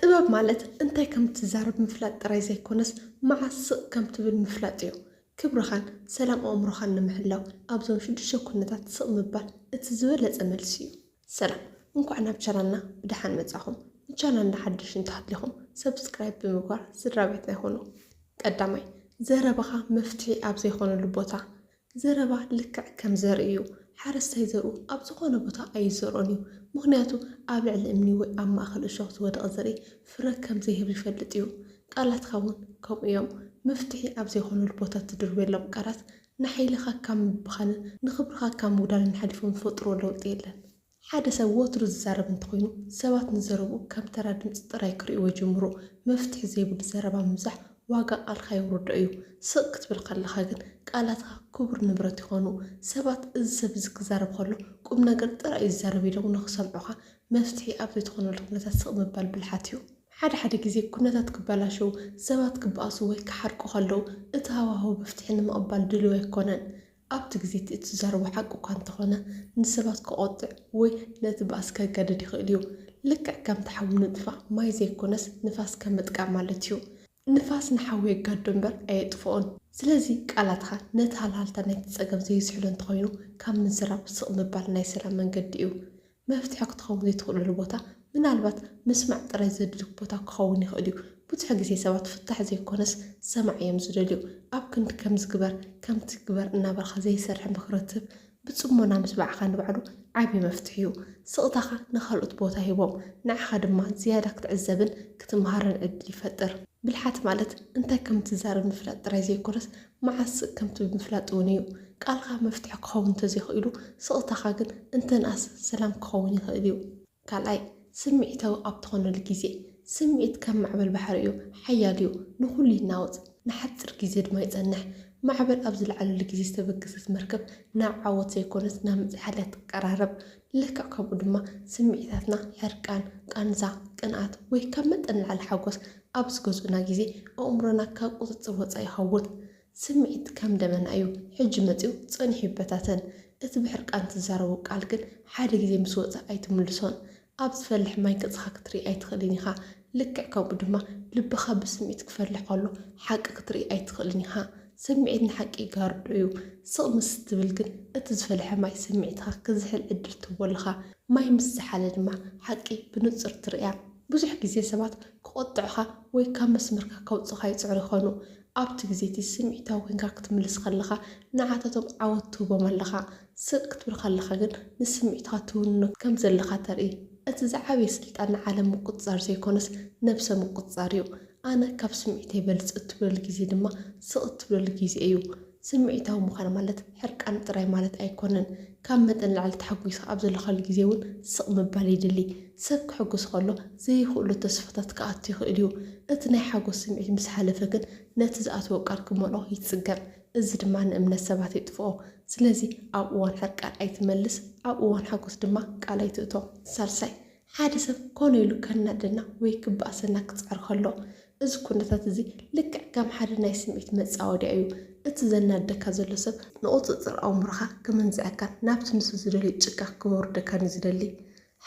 ጥበብ ማለት እንታይ ከም እትዛረብ ምፍላጥ ጥራይ ዘይኮነስ መዓስ ስቕ ከም ትብል ምፍላጥ እዩ። ክብርኻን ሰላም ኣእምሮኻን ንምሕላው ኣብዞም ሽዱሽተ ኩነታት ስቕ ምባል እቲ ዝበለጸ መልሲ እዩ። ሰላም እንኳዕ ናብ ቻናልና ብደሓን መጻኹም ንቻናልና ሓደሽቲ እንተሃሊኹም subscribe ብምግባር ስድራቤትና ይኹኑ ቀዳማይ ዘረባኻ መፍትሒ ኣብ ዘይኾነሉ ቦታ ዘረባ ልክዕ ከም ዘርኢ እዩ፣ ሓረስታይ ዘርኡ ኣብ ዝኾነ ቦታ ኣይዘርኦን እዩ፣ ምኽንያቱ ኣብ ልዕሊ እምኒ ወይ ኣብ ማእከል እሾኽ ዝወደቐ ዘርኢ ፍረ ከም ዘይህብ ይፈልጥ እዩ። ቃላትካ እውን ከምኡ እዮም፣ መፍትሒ ኣብ ዘይኮነሉ ቦታ እትድርብየሎም ቃላት ንሓይልኻ ካብ ምብኻንን ንኽብርኻ ካብ ምጉዳልን ሓሊፎም ዝፈጥርዎ ለውጢ የለን። ሓደ ሰብ ወትሩ ዝዛረብ እንተኾይኑ፣ ሰባት ንዘረብኡ ከም ተራ ድምጺ ጥራይ ክርእይዎ ይጅምሩ። መፍትሒ ዘይብሉ ዘረባ ምብዛሕ ዋጋ ቃልካ የውርዶ እዩ። ስቕ ክትብል ከለኻ ግን ቃላትካ ክቡር ንብረት ይኾኑ። ሰባት እዚ ሰብ እዚ ክዛረብ ከሎ ቁም ነገር ጥራይ እዩ ዝዛረብ ኢሎም ንኽሰምዑኻ መፍትሒ ኣብ ዘይትኾነሉ ኩነታት ስቕ ምባል ብልሓት እዩ። ሓደ ሓደ ግዜ ኩነታት ክበላሸው፣ ሰባት ክበኣሱ ወይ ክሓርቁ ከለው እቲ ሃዋህው መፍትሒ ንምቕባል ድሉው ኣይኮነን። ኣብቲ ግዜ እቲ እትዛረቦ ሓቂ እኳ እንተ ዀነ፣ ንሰባት ኬቖጥዕ ወይ ነቲ ባእሲ ኬገድድ ይኽእል እዩ። ልክዕ ከምቲ ሓዊ ንምጥፋእ ማይ ዘይኰነስ ንፋስ ከም ምጥቃም ማለት እዩ። ንፋስ ንሓዊ የጋድዶ እምበር ኣየጥፍኦን። ስለዚ፣ ቃላትካ ነቲ ሃልሃልታ ናይቲ ጸገም ዘይዝሕሎ እንተ ዀይኑ፣ ካብ ምዝራብ ስቕ ምባል ናይ ሰላም መንገዲ እዩ። መፍትሒ ክትኸውን ዘይትኽእለሉ ቦታ ምናልባት ምስማዕ ጥራይ ዘድልዩኩ ቦታ ክኸውን ይኽእል እዩ። ብዙሕ ግዜ ሰባት ፍታሕ ዘይኮነስ ሰማዒ እዮም ዝደልዩ። ኣብ ክንዲ ከምዚ ግበር ከምቲ ግበር እናበልካ ዘይሰርሕ ምኽሪ ትህብ፣ ብጽሞና ምስማዕኻ ንባዕሉ ዓቢ መፍትሒ እዩ። ስቕታኻ ንኻልኦት ቦታ ሂቦም ንዓኻ ድማ ዝያዳ ክትዕዘብን ክትመሃርን ዕድል ይፈጥር። ብልሓት ማለት እንታይ ከም እትዛረብ ምፍላጥ ጥራይ ዘይኮነስ መዓስ ከምቲ ምፍላጥ እውን እዩ። ቃልካ መፍትሒ ክኸውን እንተዘይኽኢሉ ስቕታኻ ግን እንተንኣስ ሰላም ክኸውን ይኽእል እዩ። ካልኣይ፣ ስምዒታዊ ኣብ ትኾነሉ ግዜ። ስምዒት ከም ማዕበል ባሕሪ እዩ፣ ሓያል እዩ፣ ንኹሉ ይናወጽ፣ ንሓጺር ግዜ ድማ ይጸንሕ። ማዕበል ኣብ ዝለዓለሉ ግዜ ዝተበገሰት መርከብ ናብ ዓወት ዘይኮነስ ናብ ምጽሓል እያ ትቀራረብ። ልክዕ ከምኡ ድማ ስምዒታትና ሕርቃን፣ ቃንዛ፣ ቅንኣት ወይ ካብ መጠን ንላዕሊ ሓጎስ ኣብ ዝገዝኡና ግዜ ኣእምሮና ካብ ቁጽጽር ወጻኢ ይኸውን። ስምዒት ከም ደበና እዩ፣ ሕጂ መጺኡ ጸኒሑ ይበታተን። እቲ ብሕርቃን ትዛረቦ ቃል ግን ሓደ ግዜ ምስ ወጸ ኣይትምልሶን። ኣብ ዝፈልሕ ማይ ገጽካ ክትርኢ ኣይትኽእልን ኢኻ። ልክዕ ከምኡ ድማ ልብኻ ብስምዒት ክፈልሕ ከሎ ሓቂ ክትርኢ ኣይትኽእልን ኢኻ። ስምዒት ንሓቂ ይጋርዶ እዩ። ስቕ ምስ እትብል ግን እቲ ዝፈልሐ ማይ ስምዒትካ ክዝሕል ዕድል ትህቦ ኣለኻ። ማይ ምስ ዝሓለ ድማ ሓቂ ብንጹር ትርእያ። ብዙሕ ግዜ ሰባት ክቖጥዑኻ ወይ ካብ መስመርካ ከውጽኡኻ ይጽዕሩ ይኾኑ። ኣብቲ ግዜ እቲ ስምዒታዊ ኰይንካ ክትምልስ ከለኻ ንዓታቶም ዓወት ትህቦም ኣለኻ። ስቕ ክትብል ከለኻ ግን ንስምዒትካ ትውንኖ ከም ዘለኻ ተርኢ። እቲ ዝዓበየ ስልጣን ንዓለም ምቁጽጻር ዘይኮነስ ነብሰ ምቁጽጻር እዩ። ኣነ ካብ ስምዒተይ በልጽ እትብለሉ ግዜ ድማ ስቕ እትብለሉ ግዜ እዩ። ስምዒታዊ ምዃን ማለት ሕርቃን ጥራይ ማለት ኣይኮነን። ካብ መጠን ንላዕሊ ተሓጒስካ ኣብ ዘለኻሉ ግዜ እውን ስቕ ምባል የድሊ። ሰብ ከሕጉስ ከሎ ዘይኽእሎ ተስፋታት ክኣቱ ይኽእል እዩ። እቲ ናይ ሓጎስ ስምዒት ምስ ሓለፈ ግን ነቲ ዝኣተዎ ቃል ክመልኦ ይጽገም። እዚ ድማ ንእምነት ሰባት የጥፍኦ። ስለዚ ኣብ እዋን ሕርቃን ኣይትመልስ፣ ኣብ እዋን ሓጎስ ድማ ቃል ኣይትእቶ። ሳልሳይ፣ ሓደ ሰብ ኮነ ኢሉ ከናድደና ወይ ክበኣሰና ክጽዕር ከሎ፣ እዚ ኩነታት እዚ ልክዕ ከም ሓደ ናይ ስምዒት መጻወድያ እዩ። እቲ ዘናድደካ ዘሎ ሰብ ንቑጽጽር ኣእምሮኻ ክምንዝዐካን ናብቲ ንሱ ዝደልዮ ጭቃ ክወርደካን እዩ ዝደሊ።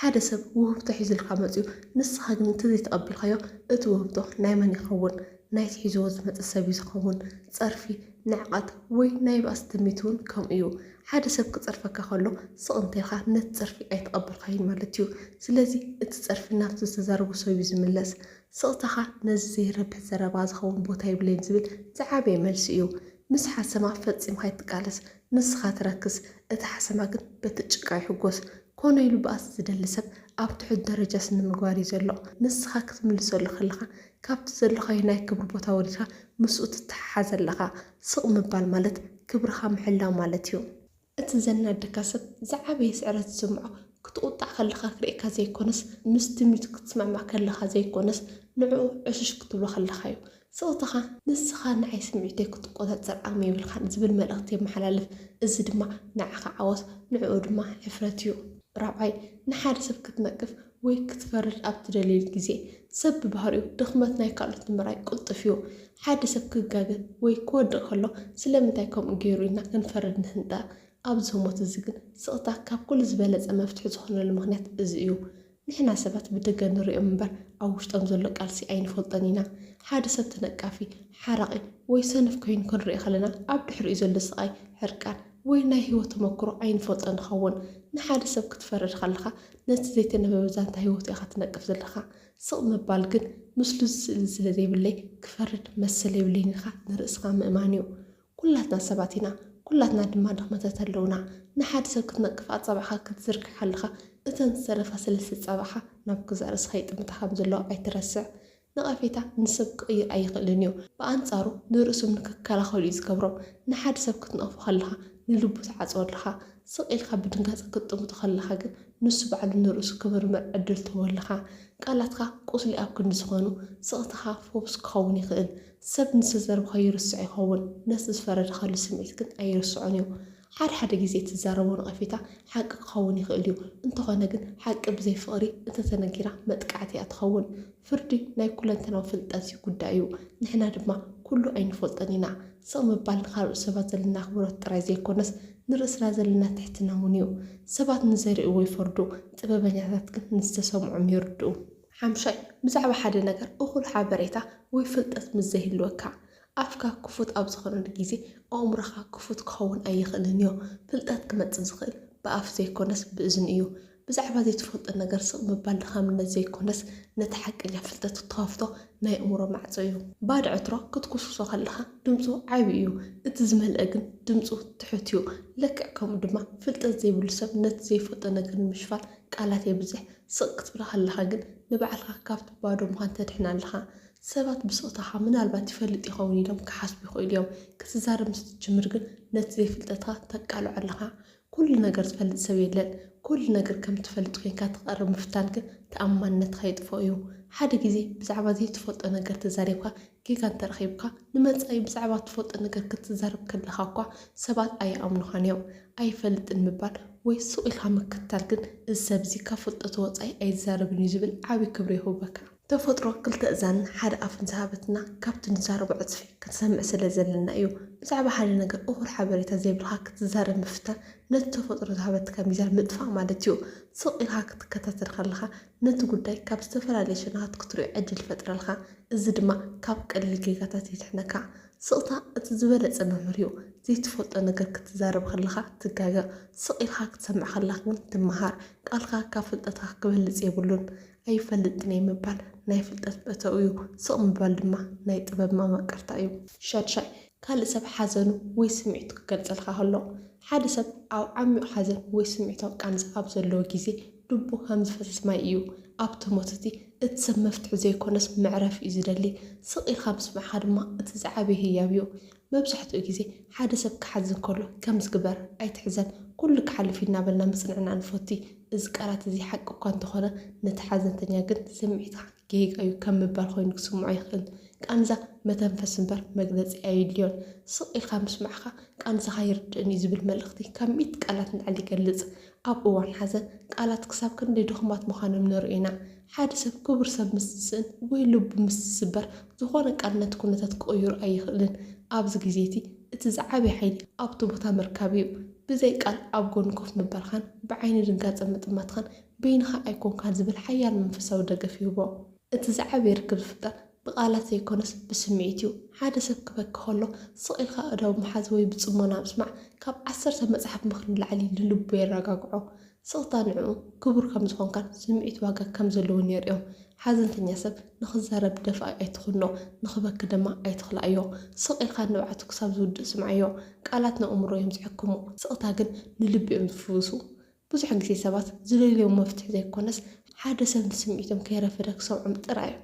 ሓደ ሰብ ውህብቶ ሒዙልካ መጺኡ ንስኻ ግን እንተዘይተቐቢልካዮ እቲ ውህብቶ ናይ መን ይኸውን? ናይቲ ሒዝዎ ዝመጸ ሰብ'ዩ ዝኸውን። ጸርፊ፣ ንዕቀት ወይ ናይ ባእሲ ትምኒት'ውን ከምኡ'ዩ። ሓደ ሰብ ክጸርፈካ ከሎ ስቕ እንተኢልካ ነቲ ጸርፊ ኣይተቐበልካዮን ማለት'ዩ። ስለዚ እቲ ጸርፊ ናብቲ ዝተዛረቦ ሰብ'ዩ ዝምለስ። ስቕታኻ ነዚ ዘይረብሕ ዘረባ ዝኸውን ቦታ የብለይን ዝብል ዝዓበየ መልሲ'ዩ። ምስ ሓሰማ ፈጺምካ ኣይትቃለስ። ንስኻ ትረክስ እቲ ሓሰማ ግን በቲ ጭቃ ይሕጎስ ኮነ ኢሉ ባእሲ ዝደሊ ሰብ ኣብ ትሑት ደረጃ ስነምግባር እዩ ዘሎ ንስኻ ክትምልሰሉ ከለኻ ካብቲ ዘሎኻዮ ናይ ክብሪ ቦታ ወሪድካ ምስኡ ትተሓሓዝ ኣለኻ ስቕ ምባል ማለት ክብርኻ ምሕላው ማለት እዩ። እቲ ዘናደካ ሰብ ዝዓበየ ስዕረት ዝስምዖ ክትቑጣዕ ከለኻ ክርእየካ ዘይኮነስ ምስ ትምኒቱ ክትስማዕማዕ ከለኻ ዘይኮነስ ንዕኡ ዕሽሽ ክትብሎ ከለኻ እዩ ስቕታኻ፣ ንስኻ ንዓይ ስምዒተይ ክትቆጻጸር ዓቕሚ የብልካን ዝብል መልእኽቲ የመሓላልፍ። እዚ ድማ ንዓኻ ዓወት ንዕኡ ድማ ሕፍረት እዩ። ራብዓይ፣ ንሓደ ሰብ ክትነቅፍ ወይ ክትፈርድ ኣብ ትደልየሉ ግዜ፣ ሰብ ብባህሪኡ ድኽመት ናይ ካልኦት ንምርኣይ ቅልጡፍ እዩ። ሓደ ሰብ ክጋገ ወይ ክወድቕ ከሎ ስለምንታይ ከምኡ ገይሩ ኢልና ክንፈርድ ንህንጠ። ኣብዚ ህሞት እዚ ግን ስቕታ ካብ ኩሉ ዝበለጸ መፍትሒ ዝኾነሉ ምኽንያት እዚ እዩ። ንሕና ሰባት ብደገ ንሪኦም እምበር ኣብ ውሽጦም ዘሎ ቃልሲ ኣይንፈልጦን ኢና። ሓደ ሰብ ተነቃፊ፣ ሓራቒ ወይ ሰነፍ ኮይኑ ክንሪኦ ከለና ኣብ ድሕሪኡ ዘሎ ስቓይ፣ ሕርቃን ወይ ናይ ህይወት ተመኩሮ ኣይንፈልጦን ንኸውን። ንሓደ ሰብ ክትፈርድ ከለኻ ነቲ ዘይተነበበ ዛንታ ህይወቱ ኢኻ ትነቅፍ ዘለኻ። ስቕ ምባል ግን ምስሉ ዝስእልን ስለዘይብለይ ክፈርድ መሰል የብለይን ኢልካ ንርእስኻ ምእማን እዩ። ኩላትና ሰባት ኢና ኩላትና ድማ ድኽመታት ኣለውና ንሓድ ሰብ ክትነቅፍ ኣጻብዕኻ ክትዝርግሕ ከለኻ እተን ዝተረፋ ሰለስተ ጻብዕኻ ናብ ገዛእ ርእስኻ ይጥምታ ከምዘለዋ ኣይትረስዕ ነቐፌታ ንሰብ ክቕይር ኣይኽእልን እዩ ብኣንጻሩ ንርእሶም ንክከላኸሉ እዩ ዝገብሮም ንሓድ ሰብ ክትነቕፎ ከለኻ ንልቡ ትዓጽዎ ኣለኻ ስቕ ኢልካ ብድንጋጸ ክትጥምቶ ከለኻ ግን ንሱ ባዕሉ ንርእሱ ክምርምር ዕድል ትህቦ ኣለኻ ቃላትካ ቁስሊ ኣብ ክንዲ ዝኾኑ ስቕታኻ ፈውስ ክኸውን ይኽእል ሰብ ንዝተዘርብካ ይርስዕ ይኸውን፣ ነቲ ዝፈረድካሉ ስምዒት ግን ኣይርስዖን እዩ። ሓደ ሓደ ግዜ እትዛረቦ ነቐፌታ ሓቂ ክኸውን ይኽእል እዩ፣ እንተኾነ ግን ሓቂ ብዘይ ፍቕሪ እንተተነጊራ መጥቃዕቲ እያ ትኸውን። ፍርዲ ናይ ኩለንተናዊ ፍልጠት ጉዳይ እዩ፣ ንሕና ድማ ኩሉ ኣይንፈልጦን ኢና። ስቕ ምባል ንኻልኦት ሰባት ዘለና ኣኽብሮት ጥራይ ዘይኮነስ ንርእስና ዘለና ትሕትና እውን እዩ። ሰባት ንዘርእይዎ ይፈርዱ፣ ጥበበኛታት ግን ንዝተሰምዖም ይርድኡ። ሓምሻይ፣ ብዛዕባ ሓደ ነገር እኹል ሓበሬታ ወይ ፍልጠት ምስ ዘይህልወካ፣ ኣፍካ ክፉት ኣብ ዝዀነሉ ግዜ ኣእምሮኻ ክፉት ክኸውን ኣይኽእልን እዩ። ፍልጠት ክመጽእ ዝኽእል ብኣፍ ዘይኰነስ ብእዝኒ እዩ። ብዛዕባ ዘይትፈልጦ ነገር ስቕ ምባል ድኻምነት ዘይኰነስ ነቲ ሓቀኛ ፍልጠት እትኸፍቶ ናይ ኣእምሮ ማዕጾ እዩ። ባዶ ዕትሮ ክትኵስኵሶ ከለኻ ድምጹ ዓቢ እዩ፣ እቲ ዝመልአ ግን ድምጹ ትሑት እዩ። ልክዕ ከምኡ ድማ፣ ፍልጠት ዘይብሉ ሰብ ነቲ ዘይፈልጦ ነገር ንምሽፋን ቃላት የብዝሕ፣ ስቕ ክትብል ከለኻ ግን ንባዕልኻ ካብቲ ባዶ ምዃን ተድሕን ኣለኻ። ሰባት ብስቕታኻ ምናልባት ይፈልጥ ይኸውን ኢሎም ክሓስቡ ይኽእሉ እዮም። ክትዛረብ ምስ እትጅምር ግን ነቲ ዘይፍልጠትካ ተቃልዖ ኣለኻ። ኩሉ ነገር ዝፈልጥ ሰብ የለን። ኩሉ ነገር ከም እትፈልጥ ኮይንካ ትቐርብ ምፍታን ግን ተኣማንነትካ የጥፍኦ እዩ። ሓደ ግዜ ብዛዕባ ዘይትፈልጦ ነገር ተዛሪብካ ጌጋ እንተረኺብካ፣ ንመጻኢ ብዛዕባ እትፈልጦ ነገር ክትዛረብ ከለኻ እኳ ሰባት ኣይኣምኑኻን እዮም። ኣይፈልጥን ምባል ወይ ስቕ ኢልካ ምክትታል ግን፣ እዚ ሰብ እዚ ካብ ፍልጠቱ ወጻኢ ኣይዛረብን እዩ ዝብል ዓቢ ክብሪ የሁበካ። ተፈጥሮ ክልተ እዛንን ሓደ ኣፍን ዝሃበትና፣ ካብቲ ንዛረቦ ዕጽፊ ክንሰምዕ ስለ ዘለና እዩ። ብዛዕባ ሓደ ነገር እኹል ሓበሬታ ዘይብልካ ክትዛረብ ምፍታን፣ ነቲ ተፈጥሮ ዝሃበትካ ሚዛን ምጥፋእ ማለት እዩ። ስቕ ኢልካ ክትከታተል ከለኻ፣ ነቲ ጉዳይ ካብ ዝተፈላለየ ሸነኻት ክትሪኦ ዕድል ይፈጥረልካ፣ እዚ ድማ ካብ ቀሊል ጌጋታት የድሕነካ። ስቕታ እቲ ዝበለጸ መምህር'ዩ። ዘይትፈልጦ ነገር ክትዛረብ ከለኻ ትጋገ፣ ስቕ ኢልካ ክትሰምዕ ከለኻ ግን ትመሃር። ቃልካ ካብ ፍልጠትካ ክበልጽ የብሉን። ኣይፈልጥን እየ ምባል ናይ ፍልጠት መእተዊ'ዩ፣ ስቕ ምባል ድማ ናይ ጥበብ መማቅርታ'ዩ። ሻድሻይ፣ ካልእ ሰብ ሓዘኑ ወይ ስምዒቱ ክገልጸልካ ከሎ። ሓደ ሰብ ኣብ ዓሚቝ ሓዘን ወይ ስምዒታዊ ቃንዛ ኣብ ዘለዎ ግዜ፣ ልቡ ከም ዝፈስስ ማይ እዩ። ኣብቲ ሞት እቲ፣ እቲ ሰብ መፍትሒ ዘይኰነስ መዕረፊ እዩ ዝደሊ። ስቕ ኢልካ ምስምዕካ ድማ እቲ ዝዓበየ ህያብ እዩ። መብዛሕትኡ ግዜ ሓደ ሰብ ክሓዝን ከሎ ከምዚ ግበር፣ ኣይትሕዘን፣ ኵሉ ክሓልፍ እዩ እናበልና ምጽንናዕ ንፈቱ። እዚ ቃላት እዚ ሓቂ እኳ እንተዀነ፣ ነቲ ሓዘንተኛ ግን ስምዒትካ። ጌጋ እዩ ከም ምባል ኮይኑ ክስምዖ ይኽእል። ቃንዛ መተንፈሲ እምበር መግለጺ ኣየድልዮን። ስቕ ኢልካ ምስማዕካ ቃንዛኻ ይርድእን እዩ ዝብል መልእኽቲ ካብ ሚእቲ ቃላት ንላዕሊ ይገልጽ። ኣብ እዋን ሓዘን ቃላት ክሳብ ክንደይ ድኹማት ምዃኖም ንርኢ ኢና። ሓደ ሰብ ክቡር ሰብ ምስ ዝስእን ወይ ልቡ ምስ ዝስበር ዝኾነ ቃል ነቲ ኩነታት ክቕይሮ ኣይኽእልን። ኣብዚ ግዜ እቲ እቲ ዝዓበየ ሓይሊ ኣብቲ ቦታ ምርካብ እዩ። ብዘይ ቃል ኣብ ጎኑ ኮፍ ምባልካን ብዓይኒ ድንጋጸ ምጥማትካን በይንኻ ኣይኰንካን ዝብል ሓያል መንፈሳዊ ደገፍ ይህቦ። እቲ ዝዓበየ ርክብ ዝፍጠር ብቓላት ዘይኰነስ ብስምዒት እዩ። ሓደ ሰብ ክበኪ ኸሎ ስቕ ኢልካ ኣእዳው ምሓዝ ወይ ብጽሞና ምስማዕ ካብ ዓሰርተ መጽሓፍ ምኽሪ ንላዕሊ ንልቡ የረጋግዖ። ስቕታ ንዕኡ ክቡር ከም ዝዀንካን ስምዒት ዋጋ ከም ዘለዎን የርእዮ። ሓዘንተኛ ሰብ ንኽዛረብ ደፋኢ ኣይትኹኖ፣ ንኽበኪ ድማ ኣይትኽልኣዮ። ስቕ ኢልካ ንብዓቱ ክሳብ ዝውድእ ስምዓዮ። ቃላት ንኣእምሮ እዮም ዝሕክሙ፣ ስቕታ ግን ንልቢ እዮም ዝፍውሱ። ብዙሕ ግዜ ሰባት ዝደልይዎ መፍትሒ ዘይኮነስ ሓደ ሰብ ንስምዒቶም ከይረፈደ ክሰምዖም ጥራይ እዩ።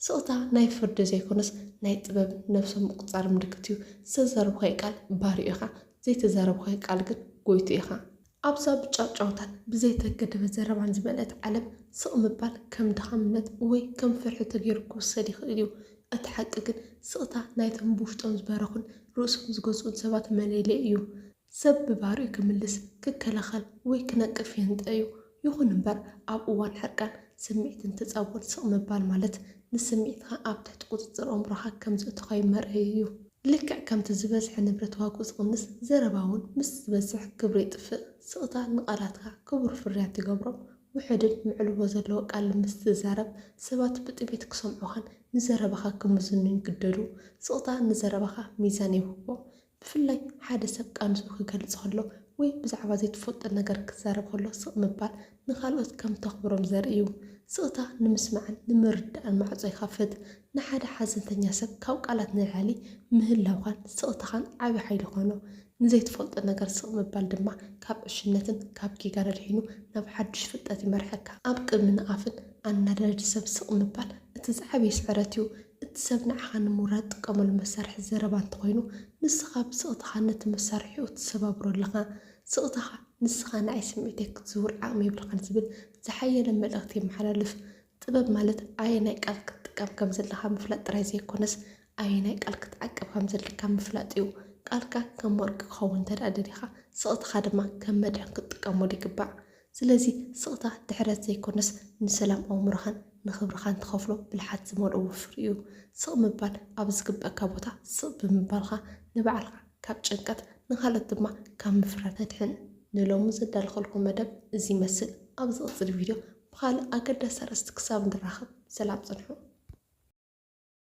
ስቕታ ናይ ፍርዲ ዘይኮነስ ናይ ጥበብ ነብሶም ምቁጽጻር ምልክት እዩ። ዝተዛረብካዮ ቃል ባርዩ ኢኻ፣ ዘይተዛረብካዮ ቃል ግን ጎይቱ ኢኻ። ኣብዛ ብጫውጫውታን ብዘይተገደበ ዘረባን ዝመልአት ዓለም ስቕ ምባል ከም ድኻምነት ወይ ከም ፍርሒ ተገይሩ ክውሰድ ይኽእል እዩ። እቲ ሓቂ ግን ስቕታ ናይቶም ብውሽጦም ዝበረኹን ርእሶም ዝገዝኡን ሰባት መለለዪ እዩ። ሰብ ብባህሪኡ ክምልስ፣ ክከላኸል ወይ ክነቅፍ ይህንጠ እዩ። ይኹን እምበር ኣብ እዋን ሕርቃን ስምዒት እንትጻወር ስቕ ምባል ማለት ንስምዒትካ ኣብ ትሕቲ ቁጽጽር ኣእምሮኻ ከም ዘእቶኻዮ መርኣዪ እዩ። ልክዕ ከምቲ ዝበዝሐ ንብረት ዋግኡ ዝቕንስ፣ ዘረባ እውን ምስ ዝበዝሕ ክብሩ የጥፍእ። ስቕታ ንቓላትካ ክቡር ፍርያት ይገብሮም። ውሑድን መዕልቦ ዘለዎ ቃል ምስ ትዛረብ፣ ሰባት ብጥሜት ክሰምዑኻን ንዘረባኻ ክምዝኑን ይግደዱ። ስቕታ ንዘረባኻ ሚዛን የውህቦ። ብፍላይ ሓደ ሰብ ቃንዝኡ ክገልጽ ከሎ ወይ ብዛዕባ ዘይትፈልጦ ነገር ክዛረብ ከሎ ስቕ ምባል ንኻልኦት ከም እተኽብሮም ዘርኢ እዩ። ስቕታ ንምስማዕን ንምርዳእን ማዕጾ ይኸፍት። ንሓደ ሓዘንተኛ ሰብ ካብ ቃላት ንላዕሊ ምህላውካን ስቕታኻን ዓቢ ሓይሊ ይዀኖ። ንዘይትፈልጦ ነገር ስቕ ምባል ድማ ካብ ዕሽነትን ካብ ጌጋን ኣድሒኑ ናብ ሓድሽ ፍልጠት ይመርሐካ። ኣብ ቅድሚ ንኣፍን ኣናዳዲ ሰብ ስቕ ምባል እቲ ዝዓበየ ስዕረት እዩ። እቲ ሰብ ንዓኻ ንምውራድ ዝጥቀመሉ መሳርሒ ዘረባ እንተኾይኑ፣ ንስኻ ብስቕታኻ ነቲ መሳርሒኡ ትሰባብሮ ኣለኻ። ስቕታኻ፣ ንስኻ ንዓይ ስምዒተይ ክትዝውር ዓቕሚ የብልኻን ዝብል ዝሓየለ መልእኽቲ የመሓላልፍ። ጥበብ ማለት ኣየናይ ቃል ክትጥቀም ከም ዘለካ ምፍላጥ ጥራይ ዘይኮነስ፣ ኣየናይ ቃል ክትዓቅብ ከም ዘለካ ምፍላጥ'ዩ። ቃልካ ከም ወርቂ ክኸውን እንተድኣ ደሊኻ፣ ስቕታኻ ድማ ከም መድሕን ክትጥቀመሉ ይግባእ። ስለዚ ስቕታ ድሕረት ዘይኮነስ ንሰላም ኣእምሮኻን ንኽብርኻን ትኸፍሎ ብልሓት ዝመልኦ ወፍሪ'ዩ። ስቕ ምባል ኣብ ዝግበኣካ ቦታ ስቕ ብምባልካ ንባዕልኻ ካብ ጭንቀት ንኻልኦት ድማ ካብ ምፍራህ ተድሕን። ንሎሚ ዘዳለኹልኩም መደብ እዚ ይመስል። ኣብ ዝቕጽል ቪድዮ ብኻልእ ኣገዳሲ ኣርእስቲ ክሳብ ንራኸብ ሰላም ጽንሑ።